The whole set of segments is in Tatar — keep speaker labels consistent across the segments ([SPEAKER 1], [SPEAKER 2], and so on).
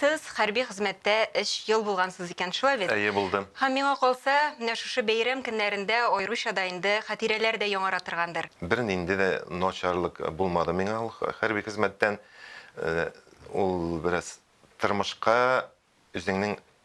[SPEAKER 1] Сез хәрби хезмәттә өч ел булгансыз икән, шулай бит? Әйе, булды. Һәм миңа калса, менә шушы бәйрәм көннәрендә аеруча да инде хатирәләр дә яңара торгандыр. Бернинди дә начарлык булмады миңа ул хәрби хезмәттән. Ул бераз тормышка, үзеңнең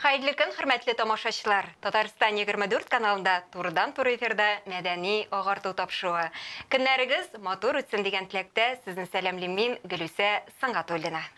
[SPEAKER 1] Хәерле көн, хөрмәтле тамашачылар! Татарстан 24 каналында турыдан-туры эфирда мәдәни агарту тапшыруы. Көннәрегез матур үтсен дигән теләктә сезне сәламлим мин, Гөлүсә Сөнгатуллина.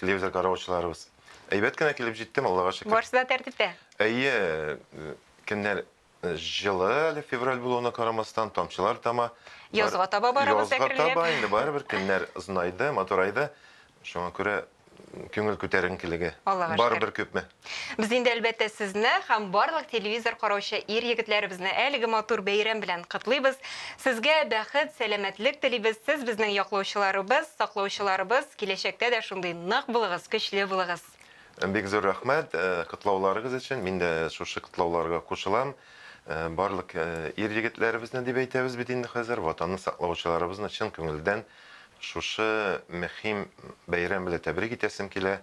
[SPEAKER 1] Телевизор караучыларыбыз. Әйбәт кенә килеп җиттем, Аллага шөкер. Барсы да тәртиптә. Әйе, э, көннәр э, җылы әле февраль булуына карамастан, тамчылар тама. Язга таба барабыз Язга әкренләп. таба инде барыбер көннәр озынайды, матурайды. Шуңа күрә м, күңел күтәренкелеге. Аллага шөкер. Барыбер күпме. Без инде, әлбәттә, сезне һәм барлык телевизор караучы ир-егетләребезне әлеге матур бәйрәм белән котлыйбыз. Сезгә бәхет, сәламәтлек телибез. Сез, безнең яклаучыларыбыз, саклаучыларыбыз. Киләчәктә дә шундый нык булыгыз, көчле булыгыз. Бик зур рәхмәт котлауларыгыз өчен. Мин дә шушы котлауларга кушылам. Барлык ир-егетләребезне дип әйтәбез бит инде хәзер, Ватанны саклаучыларыбызны чын күңелдән шушы мөһим бәйрәм белән тәбрик итәсем килә.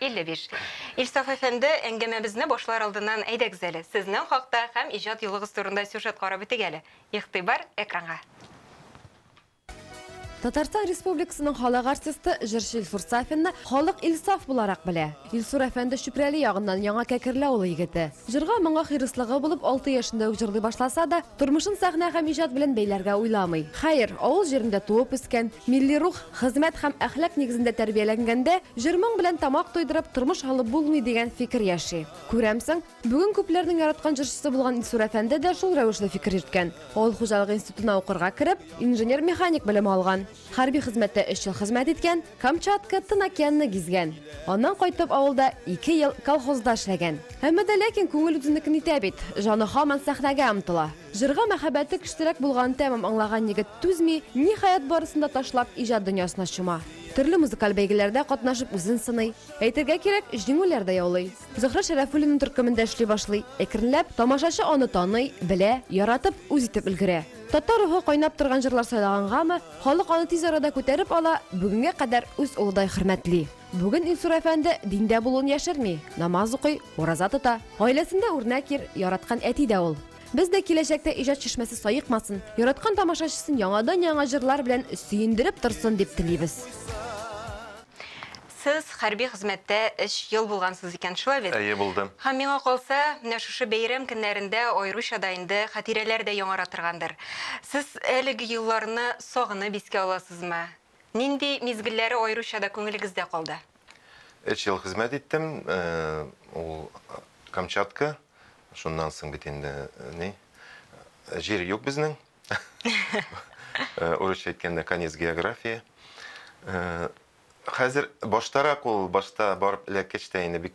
[SPEAKER 1] 55. Илсаф әфәнде, әңгәмәбезне башлар алдыннан әйдәгез әле, сезнең хакта һәм иҗат юлыгыз турында сюжет карап үтик әле. Игътибар, экранга! Татарстан Республикасының халык артисты, җырчы Илсур Сафинны халык Илсаф буларак белә. Илсур әфәнде Чүпрәле ягыннан, Яңа Кәкерле авылы егете. Җырга моңа хирыслыгы булып, алты яшендә үк җырлый башласа да, тормышын сәхнә һәм иҗат белән бәйләргә уйламый. Хәер, авыл җирендә туып үскән, милли рух, Хезмәт һәм әхлак нигезендә тәрбияләнгәндә, җыр-моң белән тамак туйдырып, тормыш алып булмый, дигән фикер яши. Күрәмсең, бүген күпләрнең яраткан җырчысы булган Илсур әфәнде дә шул рәвешле фикер йөрткән. Авыл хуҗалыгы институтына укырга кереп, инженер-механик белеме алган. Хәрби хезмәттә өч ел хезмәт иткән, Камчатка, Тын океанны гизгән. Аннан кайтып, авылда ике ел колхозда эшләгән. Әмма дә ләкин күңел үзенекен итә бит, җаны һаман сәхнәгә омтыла. Җырга мәхәббәте көчлерәк булганын тәмам аңлаган егет түзми, ниһаять, барысын да ташлап, иҗат дөньясына чума. Төрле музыкаль бәйгеләрдә катнашып үзен сыный. Әйтергә кирәк, җиңүләр дә яулый. Зөһрә Шәрәфуллина төркемендә эшли башлый. Әкренләп, тамашачы аны таный, белә, яратып, үз итеп өлгерә. Татар рухы кайнап торган җырлар сайлагангамы, халык аны тиз арада күтәреп ала, бүгенгә кадәр үз улыдай хөрмәтли. Бүген Илсур әфәнде диндә булуын яшерми, намаз укый, ураза тота. Гаиләсендә үрнәк ир, яраткан әти дә ул. Без дә киләчәктә иҗат чишмәсе саекмасын, яраткан тамашачысын яңадан-яңа җырлар белән сөендереп торсын дип телибез. Сез хәрби хезмәттә өч ел булгансыз икән, шулай бит? Әйе, булдым. Һәм, миңа калса, менә шушы бәйрәм көннәрендә аеруча да инде хатирәләр дә яңара торгандыр. Сез әлеге елларны сагынып искә аласызмы? Нинди мизгелләре аеруча да күңелегездә калды? Өч ел хезмәт иттем, ул Камчатка, шуннан соң бит инде ни, җир юк безнең. Урысча әйткәндә, конец географии. Хәзер баштарак ул, башта барып эләккәч тә инде бик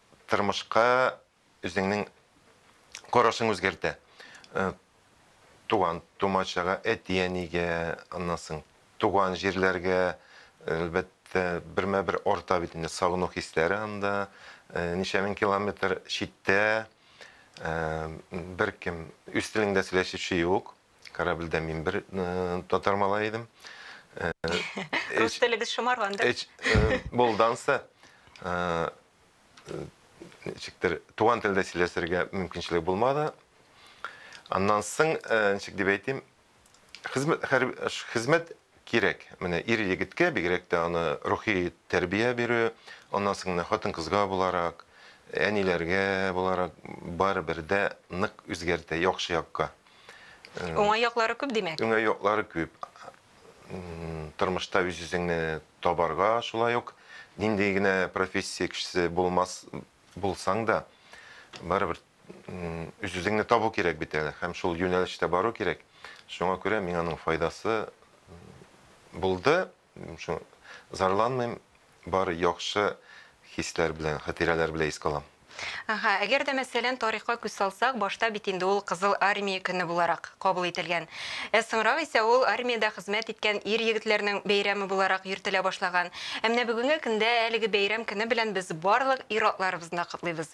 [SPEAKER 1] тормышка үзеңнең карашың үзгәртә. Туган тумачага, әти-әнигә, аннан соң туган җирләргә, әлбәттә, бермә-бер арта бит инде сагыну хисләре анда. Ничә мең километр читтә, беркем үз телеңдә сөйләшүче юк. Корабльдә мин бер татар малай идем. Рус теле без шомарган да. Эч булданса ничектер туган телдә сөйләшергә мөмкинчелек булмады. Аннан соң ничек дип әйтим, хезмәт хезмәт кирәк. Менә ир-егеткә, бигрәк тә аны рухи тәрбия бирү, аннан соң менә хатын-кызга буларак, әниләргә буларак барыбер дә нык үзгәртә, яхшы якка. Уңай яклары күп, димәк? Уңай яклары күп. Тормышта үз-үзеңне табарга, шулай ук нинди генә профессия кешесе булмас, булсаң да, барыбер үзеңне табу кирәк бит әле һәм шул юнәлештә бару кирәк. Шуңа күрә миңа аның файдасы булды. Шуңа зарланмыйм, бар яхшы хисләр белән, хатирәләр белән искә алам. Әһә, әгәр дә мәсәлән тарихка күз салсак, башта бит инде ул Кызыл Армия көне буларак кабул ителгән. Ә соңрак исә ул армиядә хезмәт иткән ир-егетләрнең бәйрәме буларак йөртелә башлаган. Ә менә бүгенге көндә әлеге бәйрәм көне белән без барлык ир-атларыбызны котлыйбыз.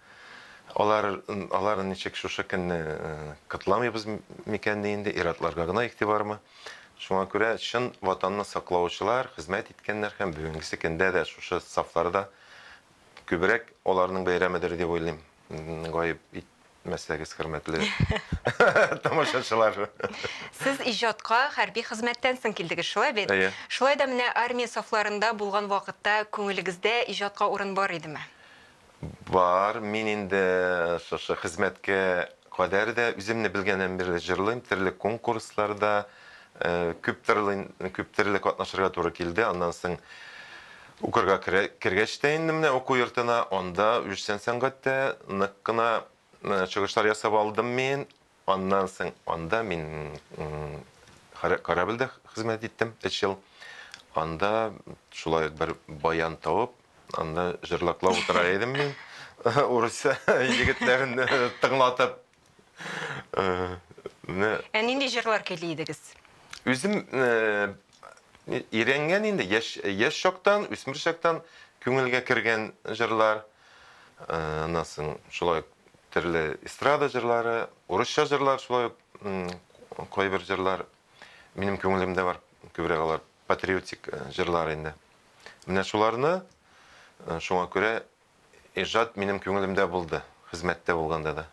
[SPEAKER 1] Алар, алар ничек шушы көнне котламыйбыз микәнни инде, ир-атларга гына игътибармы? Шуңа күрә чын Ватанны саклаучылар хезмәт иткәннәр һәм бүгенгесе көндә дә шушы сафларда күбрәк аларның бәйрәмедер дип уйлыйм. Гаеп ит мәсәгез, хөрмәтле тамашачылар. Сез иҗатка хәрби хезмәттән соң килдегез, шулай бит? Әйе. Шулай да менә армия сафларында булган вакытта күңелегездә иҗатка урын бар идеме? Бар, мин инде шушы хезмәткә кадәр дә үземне белгәннән бирле җырлыйм, төрле конкурсларда күп тырлый, күп төрле катнашырга туры килде. Аннан соң укырга кергәч тә инде менә уку йортына, анда үзешчән сәнгатьтә нык кына чыгышлар ясап алдым мин. Аннан соң анда мин корабльдә хезмәт иттем өч ел. Анда шулай ук бер баян табып, анда җырлаклап утыра идем мин. Урыс егетләрен тыңлатып. Ә нинди җырлар көйли идегез? Үзем өйрәнгән инде, яшь чактан, үсмер чактан күңелгә кергән җырлар. Аннан соң шулай ук төрле эстрада җырлары, урысча җырлар, шулай ук кайбер җырлар минем күңелемдә бар, күбрәк алар патриотик җырлар инде. Менә шуларны шуңа күрә иҗат минем күңелемдә булды, хезмәттә булганда да.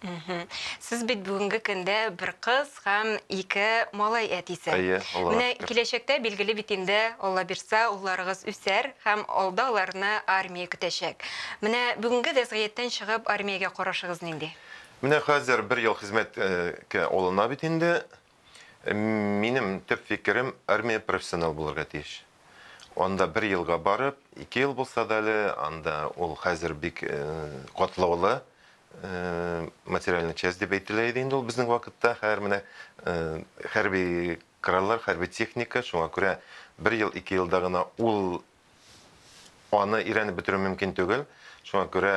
[SPEAKER 1] Мгм. Сез бит бүгенге көндә бер кыз һәм ике малай әтисе. Әйе, Аллага Менә шөкер. киләчәктә, билгеле бит инде, Алла бирса, улларыгыз үсәр һәм алда аларны армия көтәчәк. Менә бүгенге вәзгыятьтән чыгып, армиягә карашыгыз нинди? Менә хәзер бер ел хезмәткә алына бит инде. Минем төп фикерем, армия профессионал булырга тиеш. Анда бер елга барып, ике ел булса да әле, анда ул хәзер бик катлаулы материальный часть дип әйтелә иде инде ул безнең вакытта. Хәзер менә хәрби кораллар, хәрби техника, шуңа күрә бер ел, ике елда гына ул аны өйрәнеп бетерү мөмкин түгел. Шуңа күрә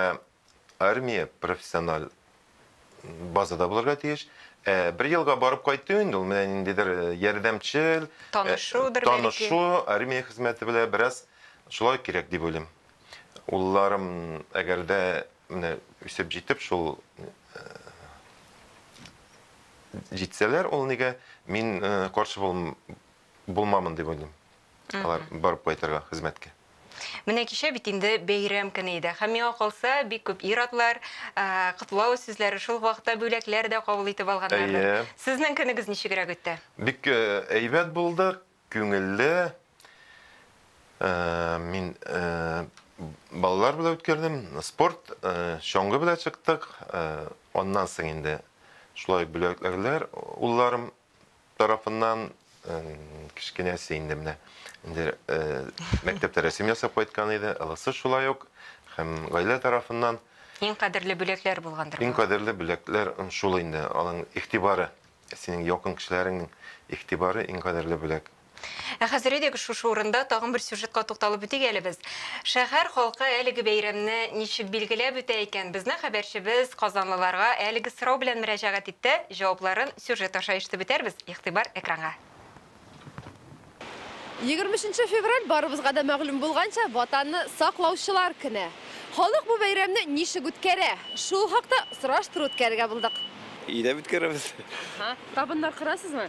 [SPEAKER 1] Армия профессиональ базада булырга тиеш. Ә, бер елга барып кайту инде ул менә ниндидер э, ярдәмчел, э, Танышудыр бәлки. танышу, армия хезмәте белән бераз шулай кирәк дип уйлыйм. Улларым, әгәр дә менә үсеп җитеп шул э, җитсәләр, ул нигә мин э, каршы булм- булмамын дип уйлыйм. Алар барып кайтырга хезмәткә. Менә кичә бит инде бәйрәм көне иде. Һәм миңа калса, бик күп ир-атлар котлау сүзләре, шул вакытта бүләкләр дә кабул итеп алганнардыр. Әйе. Сезнең көнегез ничегрәк үтте? Бик әйбәт булды, күңелле. Мин балалар белән үткәрдем, спорт, чаңгы белән чыктык. Аннан соң инде шулай бүләкләрләр улларым тарафыннан кечкенәсе инде менә инде мәктәптә рәсем ясап кайткан иде, ылысы шулай ук һәм гаилә тарафыннан Иң кадерле бүләкләр булгандыр. Иң кадерле бүләкләр шул инде, аның игътибары, синең якын кешеләреңнең игътибары иң кадерле бүләк. Ә хәзер әйдәгез шушы урында тагын бер сюжетка тукталып үтик әле без. Шәһәр халкы әлеге бәйрәмне ничек билгеләп үтә икән? Безнең хәбәрчебез казанлыларга әлеге сорау белән мөрәҗәгать итте. Җавапларын сюжет аша ишетеп үтәрбез. Игътибар экранга. Егерме өченче февраль, барыбызга да мәгълүм булганча, Ватанны саклаучылар көне. Халык бу бәйрәмне ничек үткәрә? Шул хакта сораштыру үткәрергә булдык. Өйдә үткәрәбез. Табыннар корасызмы?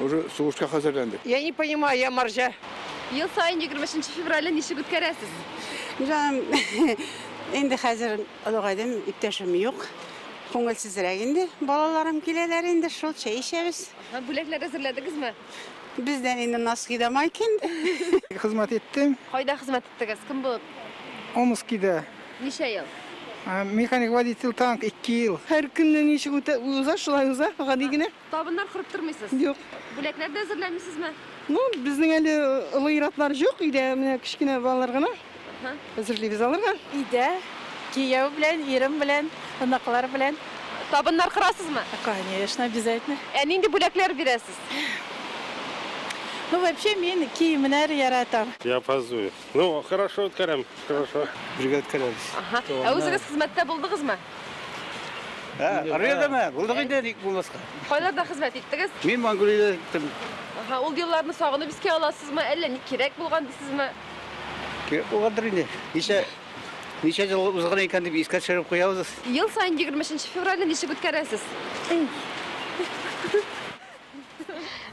[SPEAKER 1] Уже сугышка хәзерләндек. Я не понимаю, я маржа. Ел саен 23 февральне ничек үткәрәсез? Җаным, инде хәзер олыгайдым, иптәшем юк. Күңелсезрәк инде. Балаларым киләләр инде, шул чәй эчәбез. Һәм бүләкләр әзерләдегезме? Бездән инде носки да майки инде. Хезмәт иттем. Кайда хезмәт иттегез? Кем булып? Омскида. Ничә ел? Механик водитель танк, ике ел. Һәр көнне ничек үтә, уза, шулай уза, гади генә. Табыннар корып тормыйсыз? Юк. Бүләкләр дә әзерләмисезме? Ну, безнең әле олы ир-атлар юк, өйдә менә кечкенә балалар гына. Әзерлибез аларга. Өйдә, кияү белән, ирем белән, оныклар белән. Табыннар корасызмы? Конечно, обязательно. Ә нинди бүләкләр бирәсез? Ну, вообще, мин киемнәр яратам. Я опаздываю. Ну, хорошо үткәрәм, хорошо. Бергә үткәрәбез. Аһа. Ә үзегез хезмәттә булдыгызмы? Ә, Армиядәме? Булдык инде, ник булмаска. Кайларда хезмәт иттегез? Мин Монголиядә иттем. Аһа, ул елларны сагынып искә аласызмы, әллә ни кирәк булган дисезме? Кирәк булгандыр инде. Ничә ничә ел узган икән дип искә төшереп куябыз. Ел саен 23 февральне ничек үткәрәсез?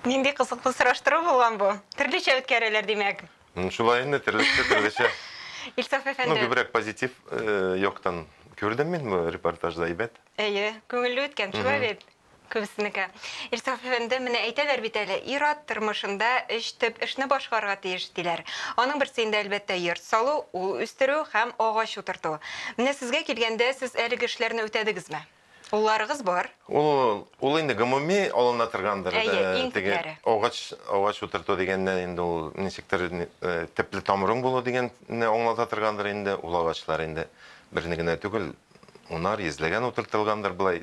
[SPEAKER 1] Нинди кызыклы сораштыру булган бу. Төрлечә үткәрәләр, димәк. Ну, шулай инде, төрлесе, төрлечә. Илсаф Ну, әфәнде. күбрәк позитив э, яктан күрдем мин бу репортажда, әйбәт. Әйе, күңелле үткән, шулай бит? Күбесенеке. Илсаф әфәнде, менә әйтәләр бит әле, ир-ат тормышында өч төп эшне башкарырга тиеш, диләр. Аның берсе инде, әлбәттә, йорт салу, ул үстерү һәм агач утырту. Менә сезгә килгәндә, сез әлеге эшләрне үтәдегезме? Улларыгыз бар? Ул, ул инде гомуми алына торгандыр. Әйе, иң күпләре. Агач, агач утырту дигәннән инде ул ничектер төпле тамырың булу дигәнне аңлата торгандыр инде. Ул агачлар инде берне генә түгел, унар, йөзләгән утыртылгандыр, болай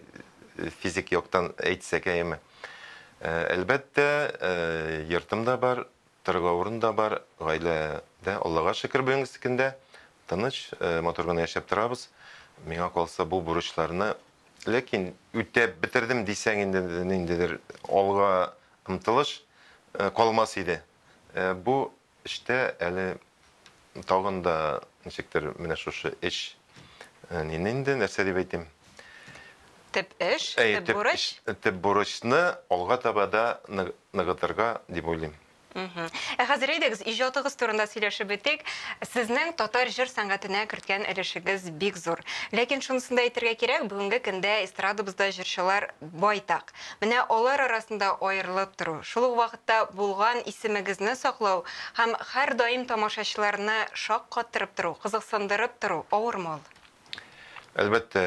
[SPEAKER 1] физик яктан әйтсәк, әйеме. Әлбәттә, йортым да бар, Торырга урын да бар, гаилә дә, Аллага шөкер, бүгенгесекн дә тыныч, матур гына яшәп торабыз. Миңа калса, бу бурычларны, ләкин үтәп бетердем дисәң инде, ниндидер алга омтылыш калмас иде. Бу эштә әле Тагын да ничектер менә шушы эш нин инде, нәрсә дип әйтим? Төп эш, төп бурыч. Төп бурычны алга таба да ныгытырга дип уйлыйм. Ә хәзер әйдәгез, иҗатыгыз турында сөйләшеп бетик. Сезнең татар җыр сәнгатенә керткән өлешегез бик зур. Ләкин шунысын да әйтергә кирәк, бүгенге көндә эстрадабызда җырчылар байтак. Менә алар арасында аерылып тору, шул ук вакытта булган исемегезне саклау һәм һәрдаим тамашачыларны шаккаттырып тору, кызыксындырып тору авырмы ул? Әлбәттә,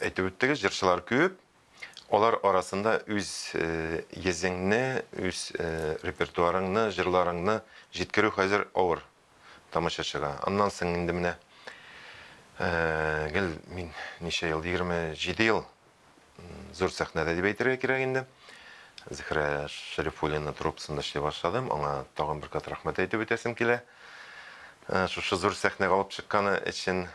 [SPEAKER 1] әйтеп үттегез, җырчылар күп. Алар арасында үз йөзеңне, үз репертуарыңны, җырларыңны җиткерү хәзер авыр. тамашачыга. Аннан соң инде менә гел мин ничә ел, 27 ел зур сәхнәдә дип әйтергә кирәк инде. Зөһрә Шәрифуллина труппасында эшли башладым. Аңа тагын бер кат рәхмәт әйтеп үтәсем килә. Шушы зур сәхнәгә алып чыкканы өчен.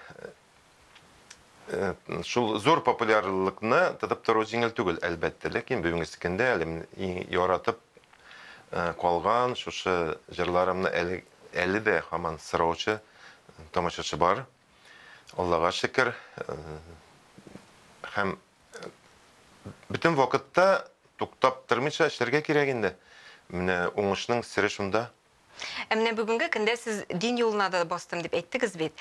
[SPEAKER 1] Э, шул зур популярлыкны тотып тору җиңел түгел, әлбәттә, ләкин бүгенге көндә әлем яратып э, калган шушы җырларымны әле, әле дә һаман сораучы тамашачы бар. Аллага шөкер. Э, һәм бөтен вакытта туктап тормыйча эшләргә кирәк инде. Менә уңышның сере шунда. Ә менә бүгенге көндә сез дин юлына да бастым дип әйттегез бит.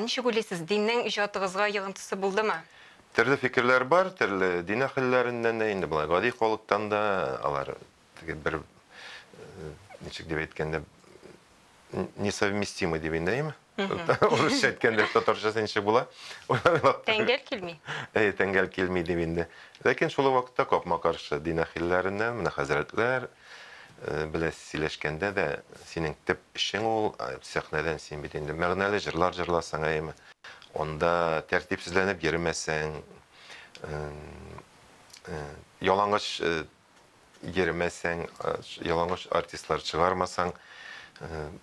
[SPEAKER 1] Ничек уйлыйсыз, диннең иҗатыгызга йогынтысы булдымы? Төрле фикерләр бар, төрле дин әһелләреннән дә, инде болай гади халыктан да, алар теге бер, ничек дип әйткәндә, несовместимы дип әйтәйме? Урысча әйткәндә татарчасы ничек була? Тәңгәл килми. Әйе, тәңгәл килми дип инде. Ләкин шул вакытта капма-каршы дин әхилләреннән, менә хәзрәтләр э, белән сөйләшкәндә дә синең төп эшең ул, э, сәхнәдән син бит инде мәгънәле җырлар җырласаң, әйеме? Анда тәртипсезләнеп йөрмәсәң, э, ялангач йөрмәсәң, ялангач артистлар чыгармасаң,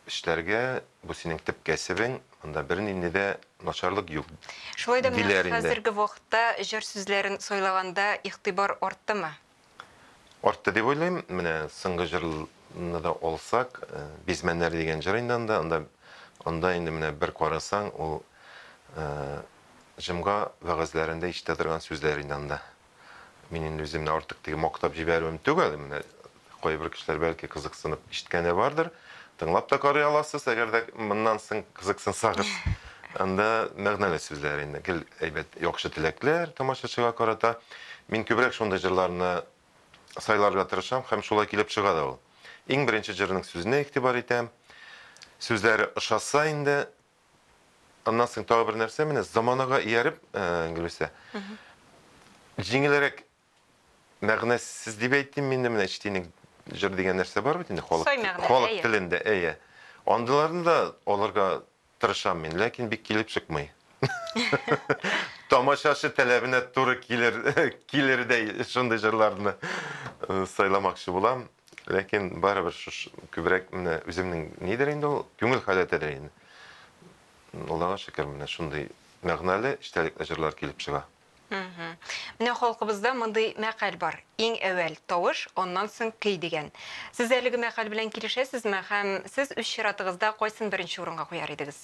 [SPEAKER 1] эшләргә, бу синең төп кәсебең, монда бернинди дә начарлык юк, диләр инде. Шулай да менә хәзерге вакытта җыр сүзләрен сайлаганда игътибар арттымы? Артты дип уйлыйм. Менә соңгы җырны да алсак, Бизмәннәр дигән җыр инде анда. Анда, анда инде менә бер карасаң, ул җомга вәгазьләрендә ишетә торган сүзләр инде анда. Мин инде үземне артык теге мактап җибәрүем түгел. Менә кайбер кешеләр бәлки кызыксынып ишеткәне бардыр. Тыңлап та карый аласыз, әгәр дә моннан соң кызыксынсагыз. Анда мәгънәле сүзләр инде, гел әйбәт, яхшы теләкләр тамашачыга карата. Мин күбрәк шундый җырларны сайларга тырышам һәм шулай килеп чыга да ул. Иң беренче җырның сүзенә игътибар итәм. Сүзләре ошаса инде, Аннан соң тагы бер нәрсә, менә заманага ияреп, Гөлүсә, җиңелрәк мәгънәсез дип әйтим мин, менә эчтинек җыр дигән нәрсә бар бит инде халык, халык телендә, әйе. Андыйларны да алырга тырышам мин, ләкин бик килеп чыкмый. Тамашачы таләбенә туры килер, килердәй шундый җырларны сайламакчы булам. Ләкин барыбер шушы күбрәк менә үземнең нидер инде ул күңел халәтедер инде. Аллага шөкер, менә шундый мәгънәле, эчтәлекле җырлар килеп чыга. Менә халкыбызда мондый мәкаль бар, иң әүвәл, тавыш, аннан соң көй дигән. Сез әлеге мәкаль белән килешәсезме һәм сез үз чиратыгызда кайсын беренче урынга куяр идегез?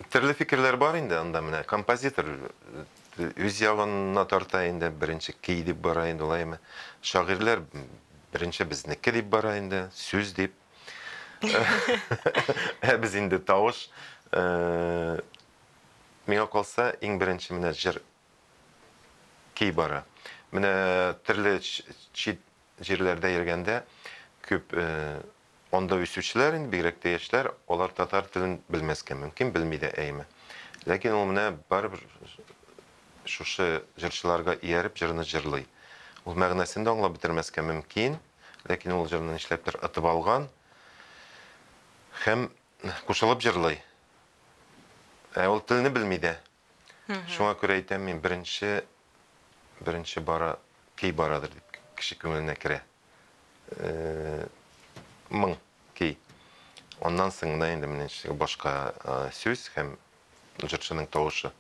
[SPEAKER 1] Төрле фикерләр бар инде анда менә композитор үз ялынына тарта инде беренче кей дип бара инде лайме шагыйрьләр беренче безнеке дип бара инде сүз дип ә без инде тавыш э, миңа калса иң беренче менә җыр кей бара менә төрле чит җирләрдә йөргәндә күп э, Анда үсүчеләр, инде бигрәк тә яшьләр, алар татар телен белмәскә мөмкин, белми дә әйме. Ләкин ул менә барыбер шушы җырчыларга ияреп җырны җырлый. Ул мәгънәсен дә аңлап бетермәскә мөмкин, ләкин ул җырны нишләптер отып алган һәм кушылып җырлый. Ә ул телне белми дә. Шуңа күрә әйтәм мин, беренче, беренче бара, кей барадыр дип кеше күңеленә керә. Моң, кей. Аннан соң гына инде менә башка сүз һәм җырчының тавышы.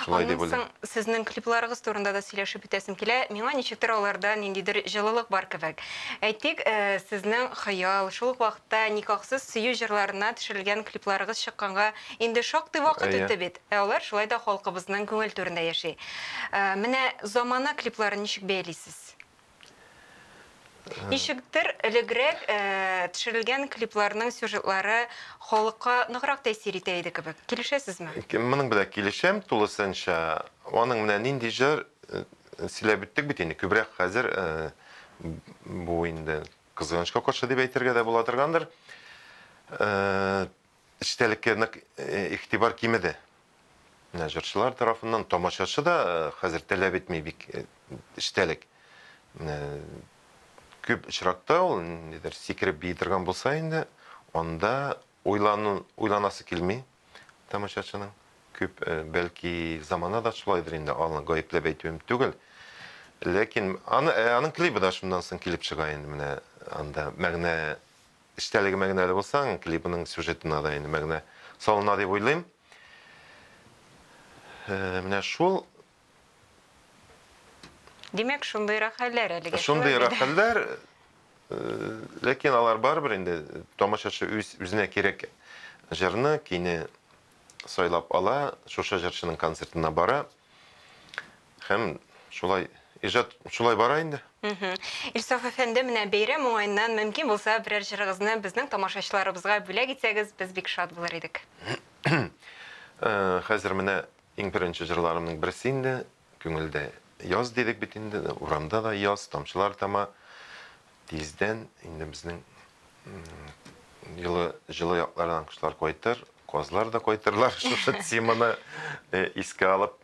[SPEAKER 1] Шулай дип уйлыйм. Сезнең клипларыгыз турында да сөйләшеп үтәсем килә. Миңа ничектер аларда ниндидер җылылык бар кебек. Әйтик, сезнең Хыял, шул ук вакытта никахсыз сөю җырларына төшерелгән клипларыгыз чыкканга, Инде шактый вакыт үтте бит, ә алар шулай да халкыбызның күңел түрендә яши. Менә замана клипларын ничек бәялисез? Ничектер элегрәк төшерелгән клипларның сюжетлары халыкка ныграк тәэсир итә иде кебек. Килешәсезме? Моның белән килешәм тулысынча. Аның менә нинди җыр сөйләп үттек бит инде. Күбрәк хәзер бу инде кызганычка каршы дип әйтергә дә була торгандыр. Эчтәлеккә нык игътибар кимеде. Менә җырчылар тарафыннан, тамашачы да хәзер таләп итми бик эчтәлек. Менә күп очракта ул нидер сикереп бии торган булса инде, анда уйлану, уйланасы килми тамашачының. Күп, бәлки, замана да шулайдыр инде, аны гаепләп әйтүем түгел. Ләкин аны, аның клибы да шуннан соң килеп чыга инде, менә анда мәгънә Эчтәлеге мәгънәле булса, клибының сюжетына да инде мәгънә салына дип уйлыйм. Менә шул. Димәк, шундыйрак хәлләр әлегә. Шундыйрак хәлләр, ләкин алар барыбер инде тамашачы үзенә кирәк җырны, көйне сайлап ала, шушы җырчының концертына бара. Һәм шулай иҗат шулай бара инде. Илсаф әфәнде, менә бәйрәм уңаеннан мөмкин булса берәр җырыгызны безнең тамашачыларыбызга бүләк итсәгез, без бик шат булыр идек. Хәзер менә иң беренче җырларымның берсе инде, күңелдә яз дидек бит инде, урамда да яз, тамчылар тама. Тиздән инде безнең җылы җылы яклардан кошлар кайтыр, казлар да кайтырлар, шушы теманы искә алып.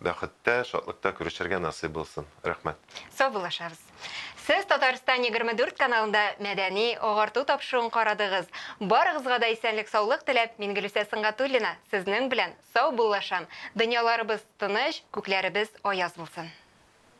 [SPEAKER 1] Бәхеттә, шатлыкта күрешергә насыйп булсын. Рәхмәт. Саубуллашабыз. Сез Татарстан егерме дүрт каналында мәдәни, агарту тапшыруын карадыгыз. Барыгызга да исәнлек-саулык теләп, мин Гөлүсә Сөнгатуллина сезнең белән саубуллашам. Дөньяларыбыз тыныч, күкләребез аяз булсын.